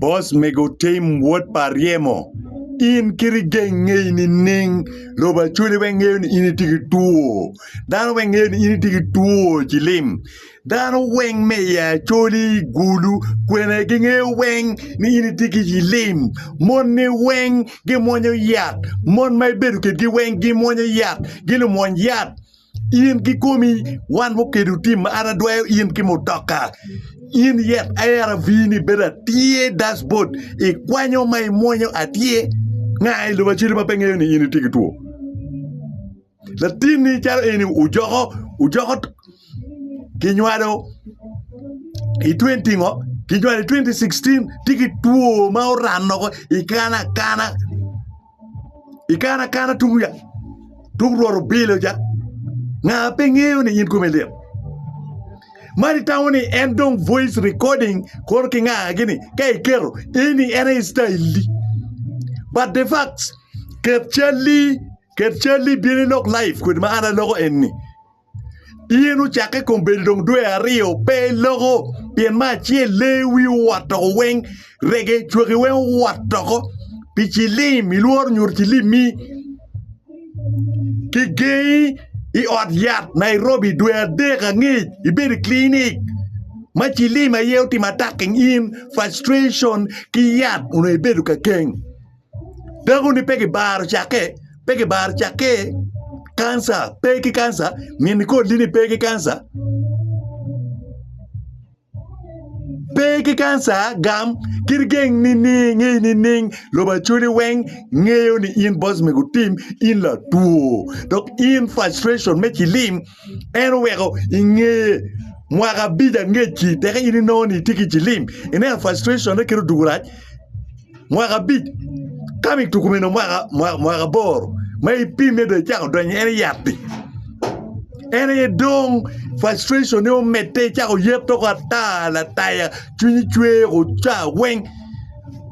Bos mego Tim wod pa ryemo, in kit igeng ngeyi nining? Lobo acwali weng ngeyo ni in itye ki two. Dano weng ngeyo ni in itye ki two cilim. Dano weng me i acwali, gulu, kwena gingeyo weng ni in itye ki cilim. Monni weng gimwonyo yat. Mon ma ibedo kedgi weng gimwonyo yat. Gilumwony yat. In ki komi wan mukedo tim ma an adwayo in ki mutoka. In yet ARV ni bedo atye dashboard i kwanyo ma i mwonyo atye nga i lobo aceli ma pe ngeyo ni in itye ki two. Latin ni calo eni ojoko ojoko kinywado i 20 ngo kinywado i 2016 tye ki two ma orano ko i kana kana. I kare akana tung ya tung rwot obilo ja nga pe ngeyo ni in kome lit. Mari tamo ni en dong voice recording kono ki nga gini ka iketo eni en aye style di. But the facts ket calli ket calli bino ilok live kodi ma an aloko enni. Yen ocakke i kom bedo dong dwe aryo pe loko pien me acel lee wi owot toko weng rege cwaki weng owot toko pi cilim ilworo nyuto cilimmi ki gengi i ot yat Nairobi dwe adek angec ibedo i clinic ma cilim aye otimo attacking in frustration ki yat onongo ibedo kakeng. Dakoni pe gibaro cakke, pe gibaro cakke. Kanca pe ki kanca, min Nicolli ni pe ki kanca. Pe ki kanca, gam kit geng nining, ngec nining, lobo acholi weng ngeyo ni in boss me gutim, in latwo dok in frustration me cilim. en oweko i nge mwaka abic angecci teke in inongo ni itye ki cilim ineno frustration ne kit odwogo rac mwaka abic ka ma ituko mene mwaka mwaka aboro ma ipime dong icako donyo en yatti en aye dong frustration ne omedde icako yet doko ata lataya cwinyi cwer oca weng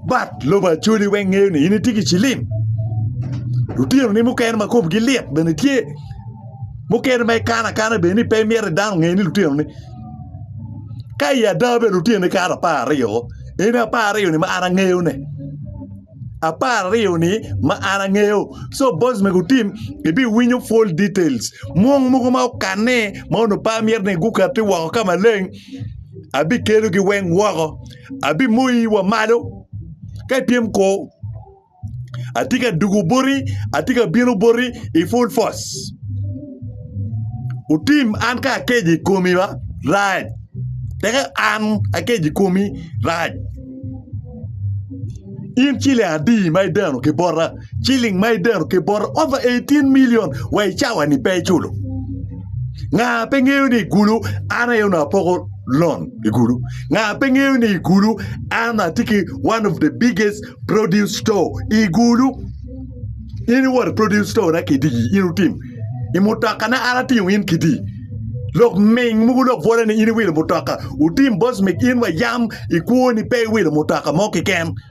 But lobo Acholi weng ngeyo ni in itye ki cilim. Lutino ni mukene ma komgi lit bene tye. Mukene ma ikano akana bene ni pe imyero dano onge ni lutino ni. Ka i ada bene lutino ni kato apar aryo o. En apar aryo ni ma an angeyo ne. Apar aryo ni ma an angeyo. So boss mego otim ibi winyo full details. Mwong mogo ma okanne ma onongo pe amyero ni gukati woko ka maleng abi kelogi weng woko. abimoyi wa malo ka ipyem kor. Atye ka dugo boti, atye ka bino boti i full force. Otim an ka akeco i komi ma rac, teka an akeco i komi rac. In ciling adi ma ideno ki bota? Ciling ma ideno ki bota over 18 million wa i cawa-ni pe iculo. Nga pe ngeyo ni i gulu an aye onongo apoko lon? i kulu nga pe ngeyo ni i kulu ama tye ki one of the biggest produce store i kulu in iwot produce store na kiti in otim i mutoka na an atingo in kiti lok ming mogo lok bwole ni in iwilo mutoka otim bosmik in wa yam ikwo ni pe iwilo mutoka mo kiken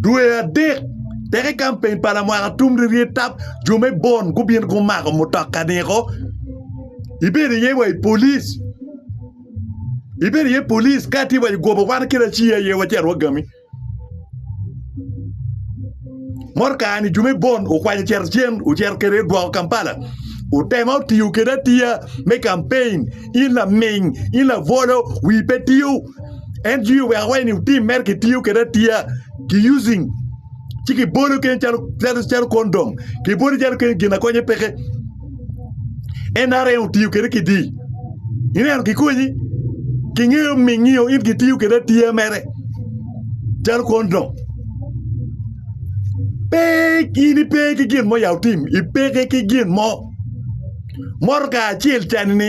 Dwe adek tek i kampeny pa lamwaka atum ryeryet tap, jo me Bon gubino gumako mutoka niko. Ibedo iye wa i polic, ibedo iye polic ka tye wa i goba wan kit aci aye wacito wagami. Motoka-ni jo me Bon okwanyo ocito cen ocito kwede odwoko Kampala. Otema otiyo kede atiya me kampeny, in laming, in labolo, wi pe tiyo. en jwiyo wek awaci ni wutim mere kitiyo kwede atiya ki using ci kibolo kene calo calo calo kondom kibolo calo kene gin akonye peke NRM otiyo kwede kidi ineno kikonyi kingeyo mingiyo in kitiyo kwede atiya mere calo kondom pe in ipe ki gin mo ya utim ipeke ki gin mo motoka acel cani ni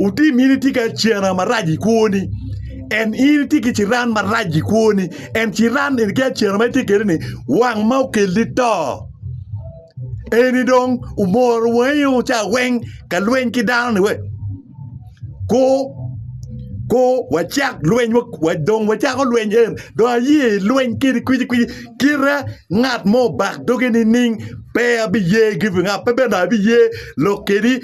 Otim in itye ki acena marac i kwoni en in itye ki ciran marac i kwoni en ciran eni ki acena ma itye kwede ni wang ma okelli to eni dong omoro wangi o ca weng ka lweny ki dano ni we ko ko wacak lweny wa dong wacako lweny en dong aye ilweny kedi kwiji kwiji kita ngat mo obak doge nining pe abiye give ing up pe bene dong abiye lok kedi